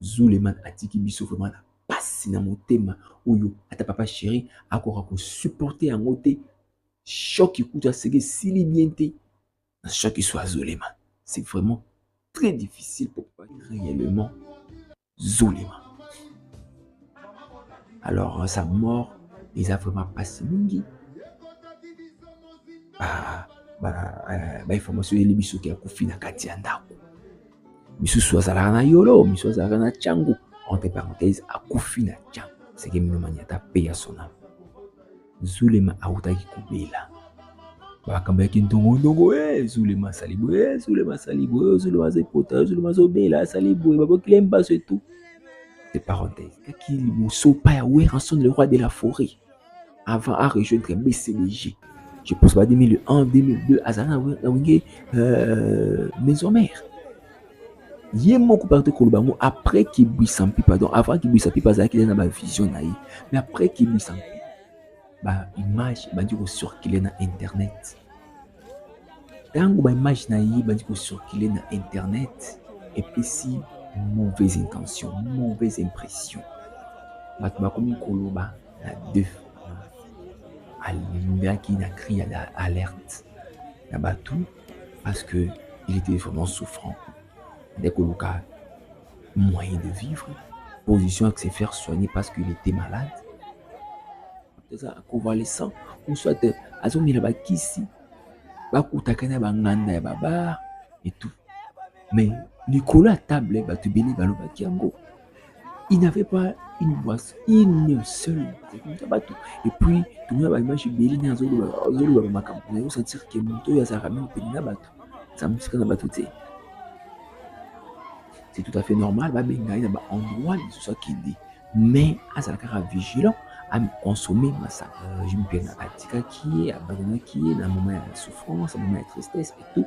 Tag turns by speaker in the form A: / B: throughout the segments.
A: Zuleman atiki biso vraiment na pasi na motema oyo ata papa chéri akoka ko supporter yango te choc kutu aseki esili bien te na choc soit Zuleman c'est vraiment très difficile pour papa réellement Zuleman alors sa mort eza vraiment pasi mingi ba ba ba information yeli biso ke akufi na kati ya ndako misusu azalaka na yolo misusu azalaka na changu entre parenthèse akufi na changu seke mino maniata pe ya sona zulema awutaki kobela makambo ya kindongondongo e eh, zulema asali boye e eh, zulema asali boye eh, zulema aza epota zulema azobela asali boye babokile mbaso etu de parenthèse kaki liboso pa ya werrason le roi de la forêt avant à rejoindre BCDG. Je pense pas 2001, 2002, Azana Wenge, euh, maison mère. ye moko parti koloba yango après kibwisa mpi pardon avant kibwisa mpi bazalaki na bavision na ye mais après kibwisa mpi baimage ebandi kocircule na internet ntango baimage na ye ebandi kocircule na internet epesi mauvaise intention mauvaise impression bato bakomi koloba na deux alingaki na cri ya alerte na bato parce que il était vraiment souffrant nde koluka moyen de vivre position ya se faire soigner parce qu'il était malade eza convalescent ou soit azomela bakisi bakutaka na banganda ya babar et tout mais likolo ya table bato ebele balobaki yango il n'avait pas une boisse une seule kokuta bato epuis tomona baimage ebele nde azolobaka makambo na yo sentir ke moto oyo azalaka mingi pene na bato aza mosika na bato te c'est tout à fait normal babenga ye na baendroit lisusu akende mais azala kaka vigilant aconsomme masanga regime mpe atikaki ye abandonaki ye na moment ya souffrance na moment ya tristesse et tout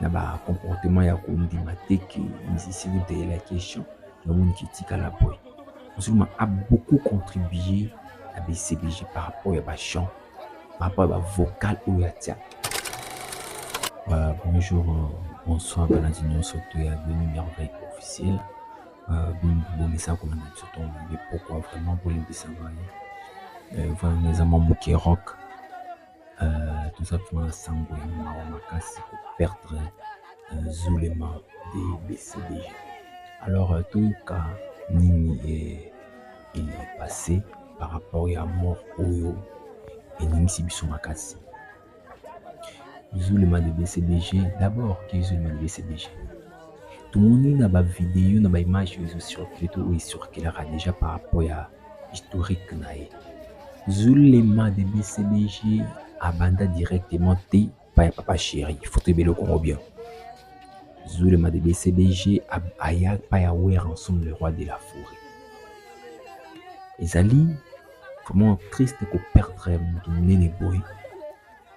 A: na ba comportement ya kondima te ke musicien de la question namoni ke etikala boye Zuluma a beaucoup contribué na BCBG par rapport ya ba chant par rapport ya ba vocal oyo atia euh, bonjour bonsoir balandi nyonso to ya bino merveille officiel euh, bomisa kolanda biso ntongo mpe pokwa vraiment bolimbisa ngai euh, vraiment eza mwa moke rock Euh, toza mpo na sango ya mawa makasi koperdre euh, zulema de bcd alors euh, toyoka nini epasse par rapport ya mort oyo eningisi biso makasi zulema de bcbg d'abord ke zulema de bcbg tomoni na bavideo na baimage oyo ezocircule to oyo ecirculaka déjà par rapport ya historique na ye. Zulema de BCBG abanda directement te epai ya papa Cheri, il faut toyeba eloko yango bien. Zulema de BCBG aya epai ya Werrason le roi de la forêt. Ezali vraiment triste ko perdre moto monene boye.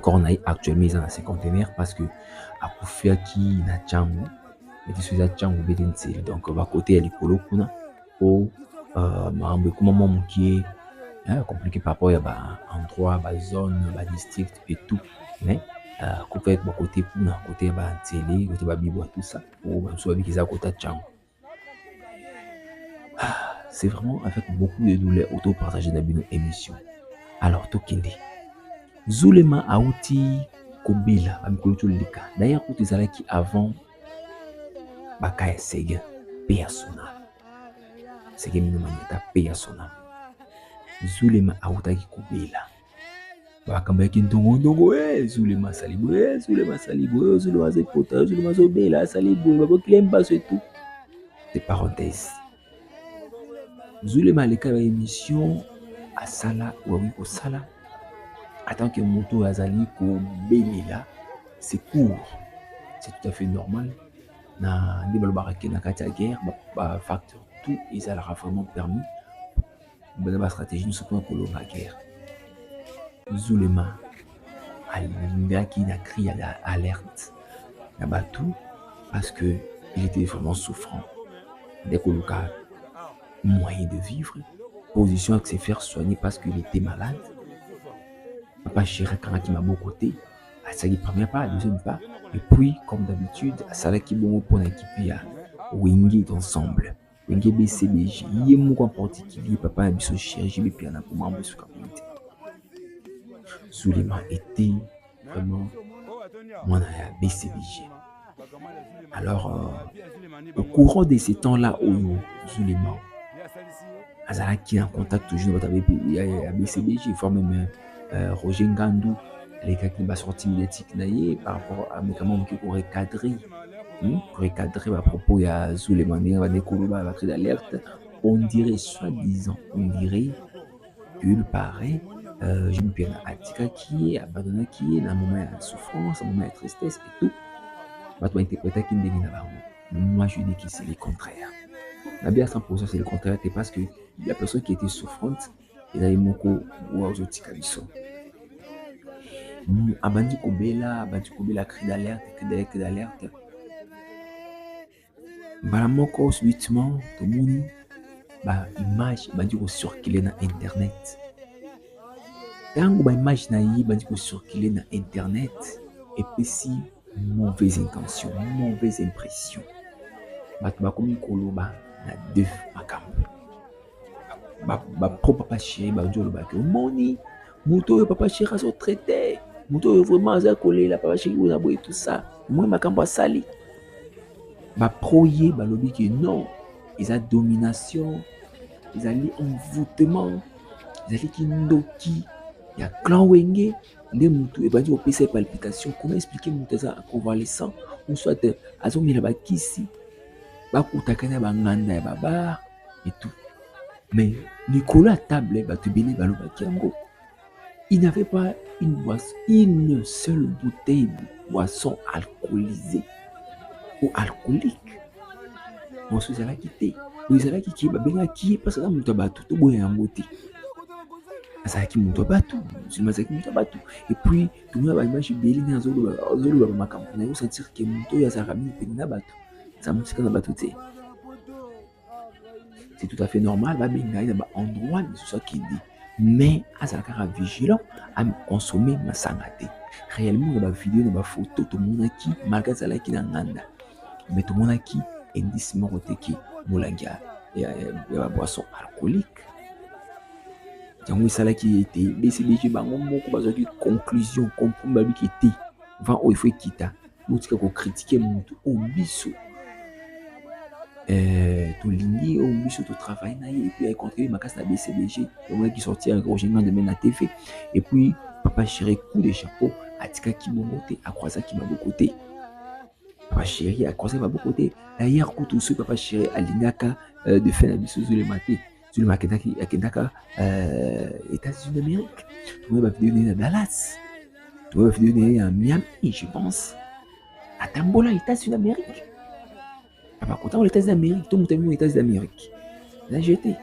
A: corps na ye actuellement eza na se contenaire parce que akufiaki na ntango ete so eza ntango bete nsele donc bakote ya likolo kuna mpo euh, makambo ekuma mwa mokie compliqué par rapport ya baendroit bazone badistrict et tout mais euh, kope bakote kuna kote ya bansele kote babibwa tout ça mpo bamosusu babiki eza kota ntango Ah, c'est vraiment avec beaucoup de douleur auto partager na bino émission. Alors tokende. Zulema auti kobela ba mikolo toleka. D'ailleurs kutu ezalaki avant baka ya Sega pe ya Sona. Sega mino manyata pe ya Sona. Zulema autaki kobela. makambo ya kindongodongo ezulema asali boye ezulema asali boye ozulema aza epota ozulema azobela asali boye babokile mbaso etu de parenthèse zulema aleka ba émission asala oakoki kosala atant que moto oyo azali kobelela secours c'est tout à fait normal na nde balobaka ke na kati ya guerre bafacteur tout ezalaka vraiment permis baza ba stratégie nyonso mpona kolonga guerre zulema alingaki na cri ya alerte na bato parce que il était vraiment souffrant nde koluka moyen de vivre position ya se faire soigner parce qu'il était malade papa chéri akangaki maboko te asalaki première pas deuxième pas et puis comme d'habitude asalaki bongo mpona ekipe ya wingit ensemble Wenge BCBG ye moko en particulier papa ya biso chirurgie bipiana po mambo esuka boye te Suleiman était vraiment mwana ya BCBG alors euh, au courant de ces temps là oyo Suleiman azalaki en contact toujours na bato ya BCBG voire même euh, euh, Roger Ngandu alekaki na basortie médiatique na ye par rapport à médicament moke ko recadrer hmm? ko recadrer bapropos ya zulema ndenge bande koloba bacri d'alerte on dirait soit disant on dirait qu'il paraît euh, jeune piana atikaki ye abandonaki ye na moment ya souffrance na moment ya tristesse et tout bato bainterpretaki ndenge na bango moi je dis que c'est le contraire nabi asan posa c'est le contraire te parce que la personne qui était souffrante eza ye moko oyo azotika biso hmm, abandi kobela abandi kobela cri d'alerte cri d'alerte cri d'alerte mbala moko subitement tomoni ba image ebandi kocircule na internet ntango ba image na ye ebandi kocircule na internet epesi mauvaise intention mauvaise impression bato bakomi koloba na deux makambo ba pro papa chéri bazo oloba ke omoni moto oyo papa chéri azo traite moto oyo vraiment aza kolela papa chéri oyo na boye tout ça omoni makambo asali ba pro ye balobi ke non eza domination ezali envoûtement ezali kindoki ya clan wenge nde motu ebandi kopesa ye palpitation comment explique moto aza convalescent ou soit azomela bakisi bakutaka na banganda ya babare et tout mais likolo ya table bato ebele balobaki yango il n'avait pas une boisson une seule bouteille de boisson alcoolisée ou alcoolique boso ezalaki te oyo ezalaki ke babengaki ye mpasi aza moto ya bato toboya yango te azalaki moto ya bato musulma azalaki moto ya bato epuis tomona baimage ebele nde azoloba makambo na yo sentir ke moto oyo azalaka mingi pene na bato eza mosika na bato te c'est tout à fait normal babenga ye na baendroit misusu akende mais azala kaka vigilant aconsomme masanga te réellement na bavideo na bafoto tomonaki malgre azalaki na nganda mais tomonaki indice moko te ke molangi ya baboisson alcoolique yango esalaki ye ete bcbg bango moko bazwaki conclusion compromis babiki te vent oyo efo ekita botika ko critiquer mutu oyo oh, biso eh, tolingi oyo oh, biso totravaille na ye epuis acontribue makasi na bcbg omonaki sorti ya roger ngande me na tv epuis papa chéri coup de chapeau atikaki bongo te akroisaki maboko te papa chéri akroisaki maboko te dayere kutu soki papa chéri alingaka euh, de fin na biso ezolema te Zulema akendaki akendaka euh, États-Unis d'Amérique. Tomoni ba vidéo na Dallas. Tomoni ba vidéo na Miami, je pense. Atambola États-Unis d'Amérique. Papa kota aux États-Unis d'Amérique, tout mutu aux États-Unis d'Amérique. La jeté.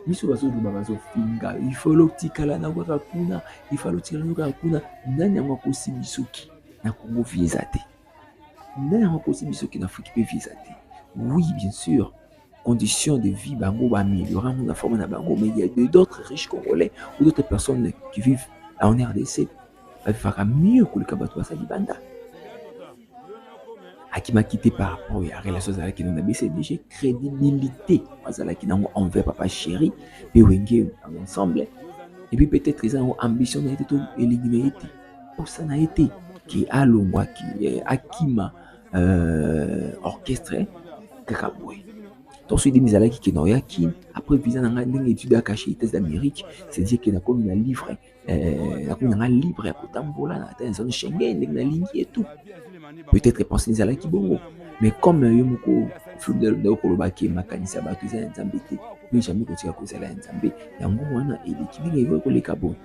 A: biso bazoloba bazofinga ifalo otikala na kaka kuna ifalo otikala na kaka kuna nani yango akosi bisoki na kongo vie eza te Mère okosi biso kin Afrique pe visa te. Oui, bien sûr. Conditions de vie bango ba améliorer na forme na bango mais il y a d'autres riches congolais ou d'autres personnes qui vivent en RDC bavivaka mieux koleka bato baza libanda akimaki te par rapport ya relation azalaki na bcdg crédibilité azalaki nango envers papa chéri mpe wenge ensemble epuis peut-être eza yango ambition na ye te to elingi na ye te posa na ye te ke alongwa eh, akima euh, orchestre kaka boye donc soki demi ezalaki ke naoya kin après visa na ngai ndenge étude ya cache états d'amérique c'est-à-dire ke nakomi na livre eh, nakomi na ngai libre ya kotambola na ata zone schengen ndenge nalingi et tout peut-être pense ezalaki bongo mais comme euh, yo moko fulde okoloba ke makanisi ya bato eza ya nzambe te yo jamais kotika kozala ya nzambe yango wana eleki ndenge ekoki koleka boye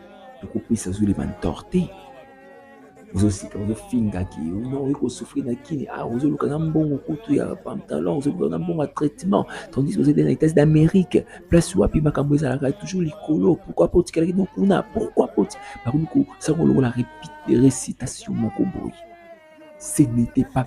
A: tokopesa zule bantor te ozosika ozofinga ki no okoki kosouffrir na kini ah ozoluka na mbongo kutu ya pantalon ozoluka na mbongo ya traitement tandis ozali na états d'amérique place wapi makambo ezalaka toujours likolo pourquoi po otikalaki no kuna pourquoi po bakomi kosanga lokola récitation moko boye ce n'était pas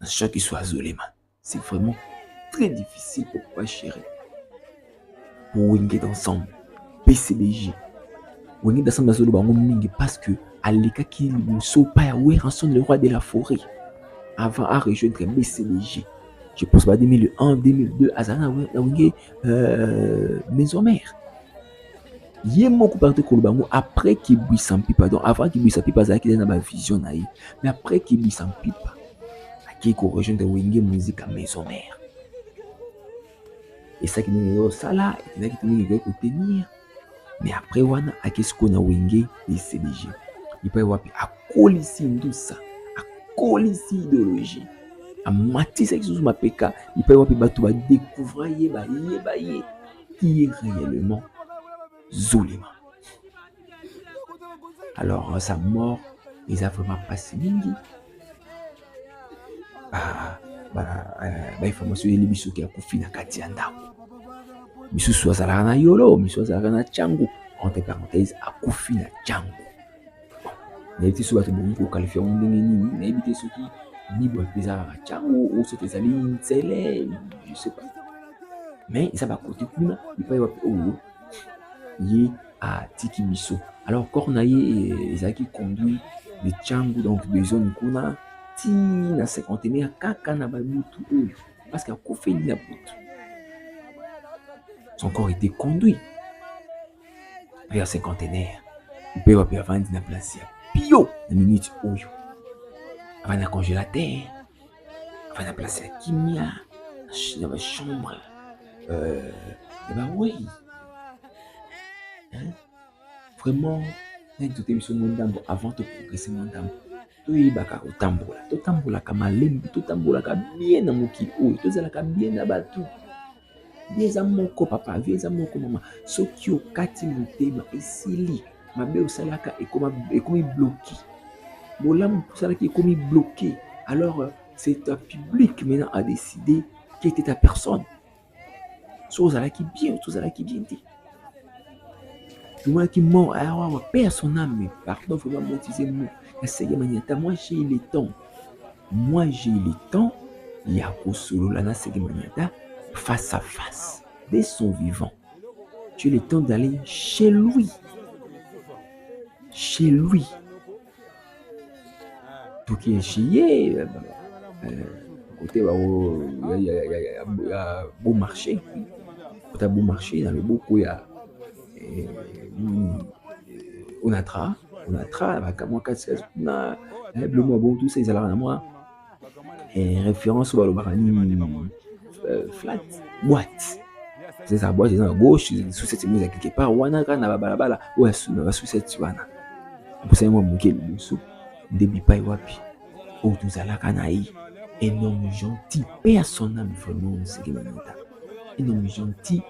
A: na choc iso azolema c'est vraiment très difficile pour papa chéri wenge d'ensemble pcbg wenge d'ensemble azoloba yango mingi parce que alekaki liboso pa ya werrason le roi de la forêt avant a rejoindre bcbg je pense ba 2001 2002 azala na wenge euh, maison mère ye moko parti koloba yango après kibwisa mpipa donc avant kibwisa mpipa azalaki na bavision na ye mais après kibwisa mpipa akei korejoindre wenge musika maison mare esaki ndenge yo osala etindaki te ndenge ekoki kotenir mais après wana akei sikoyo na wenge ecdg epai wapi akolisi ndusa akolisi ideologie amatisaki susu mapeka epai wapi bato badekuvra ye bayeba ye qui est réellement Zulema. Alors, sa mort, ils a vraiment passé mingi. Ah, bah, euh, bah, il faut me souvenir biso qui a kufi na kati ya ndako. Misusu azalaka na yolo, misusu azalaka na changu. Entre parenthèses, akufi na changu. nayebi te soki bato bongi kokalifia yango ndenge nini nayebi te soki bible mpe eza kaka cango o soki ezali nzele je sais pas mais eza bakote kuna epai wapi oyo ye atiki biso alors corps na ye eh, ezalaki conduit de cango donc de zone kuna ti na cinquantenaire kaka na babutu oyo parce que akufeli na butu son corps était conduit mpe ya cinquantenaire mpe wapi avandi na place ya pio na minute oyo avandi na congélateur avandi na place ya kimia na bachambre ya bawei vraiment nani tote biso mwa ndambo avant toprogrese mwa ndambo toyebaka kotambola totambolaka malembe totambolaka bien na mokili oyo tozalaka bien na bato vie eza moko papa vie eza moko mama soki okati motema esili mabe osalaka ekomi bloki bolamu osalaki ekomi bloki alors euh, c'est ta public maintenant à décider qui était ta personne so ozalaki bien so ozalaki bien te tomonaki mort ayawawa ah, pe à son âme pardon vraiment motize mo ya sege maniata moi j'ai le temps moi j'ai le temps ya kosolola na sege maniata face à face dès son vivant tu as le temps d'aller chez lui chez lui tokienshi ye kote ya beau marché kota beau marché na loboko ya eh, hmm, eh, onatra onatra bakamwa kasi kuna eh, biloko ya bongo tusa ezalaka na mwa eh, référence balobaka nini hmm, euh, flat boîte eza boîte eza na gauche susete mo eza quelque part wana kaka na babalabala oyo asuna basusete wana mposa yango ya moke liboso nde bipai wapi oyo tozalaka na ye un homme gentil mpe ya son âme vraiment moseke manota un homme gentil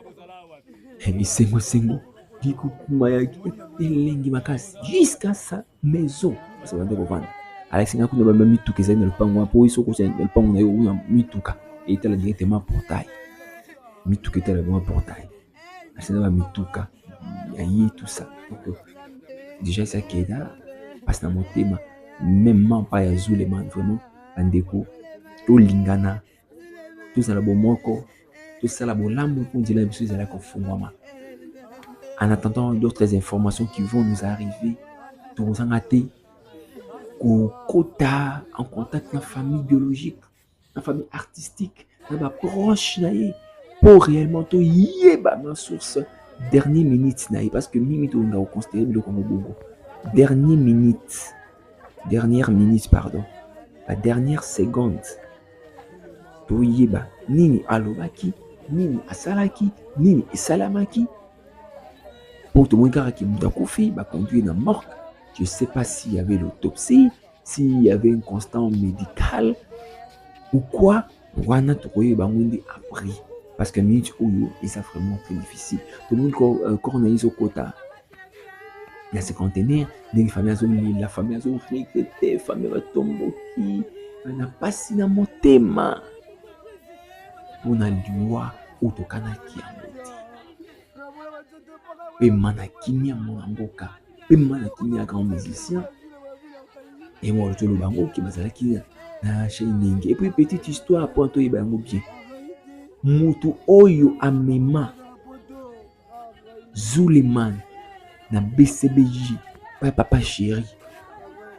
A: bisengosengo bikokumayaki elengi makasi jusqu'à ça maison basi babandi kovanda alakisi ngai kuna bamema mituka ezali na lopango wana mpo oyo soki ozali na lopango na yo kuna mituka etala directement portail mituka etala bima portail alakisi na bamituka ya ye tout ça donc déjà esi akeda mpasi na motema meme mampa ya zuleman vraiment bandeko tolingana tozala bomoko tosala bolamu mpo nzela na biso ezalaki kofungwama en attendant d'autres informations qui vont nous arriver tokozanga te kokota en contact na famille biologique na famille artistique na baproche na ye mpo réellement toyeba na source dernier minute na ye parce que mingi tolinga koconsidere biloko yango bongo dernier minute dernière minute pardon ba dernière seconde toyeba nini alobaki nini asalaki nini esalamaki mpo tomoni kaka ke moto akufi baconduire na morgue je sais pas s'il y avait l'autopsie s'il y avait un constant médical ou quoi wana tokoyeba yango nde après parce que minute oyo eza vraiment très difficile tomoni euh, corps na ye ezokota na cinquantenaire ndenge famille azolela famille azoregrete famille batomboki na mpasi na motema mpo na liwa oyo tokanaki yango te pema na kimia mona mboka mpe mama na kimia grand musicien yango wana toloba yango oke bazalaki na shenenge epuis petite histoire mpo na toyeba yango bien motu oyo amema zuleman na bcbj paya papa chéri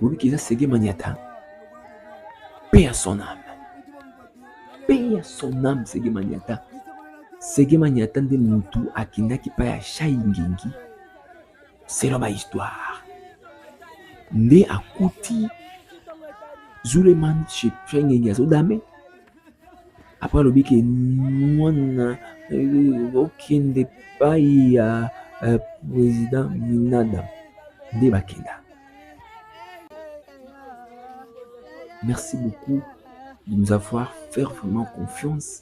A: bobiki eza sege maniata mpe ya son ame mpe ya son ame sege maniata sege maniata nde motu akendaki mpa ya shai ngengi selon ba histoire nde akuti zuleman chez pengenge azodame apres alobi ke mwana euh, okende epai ya euh, président minada nde bakenda merci beaucoup de nous avoir fait vraiment confiance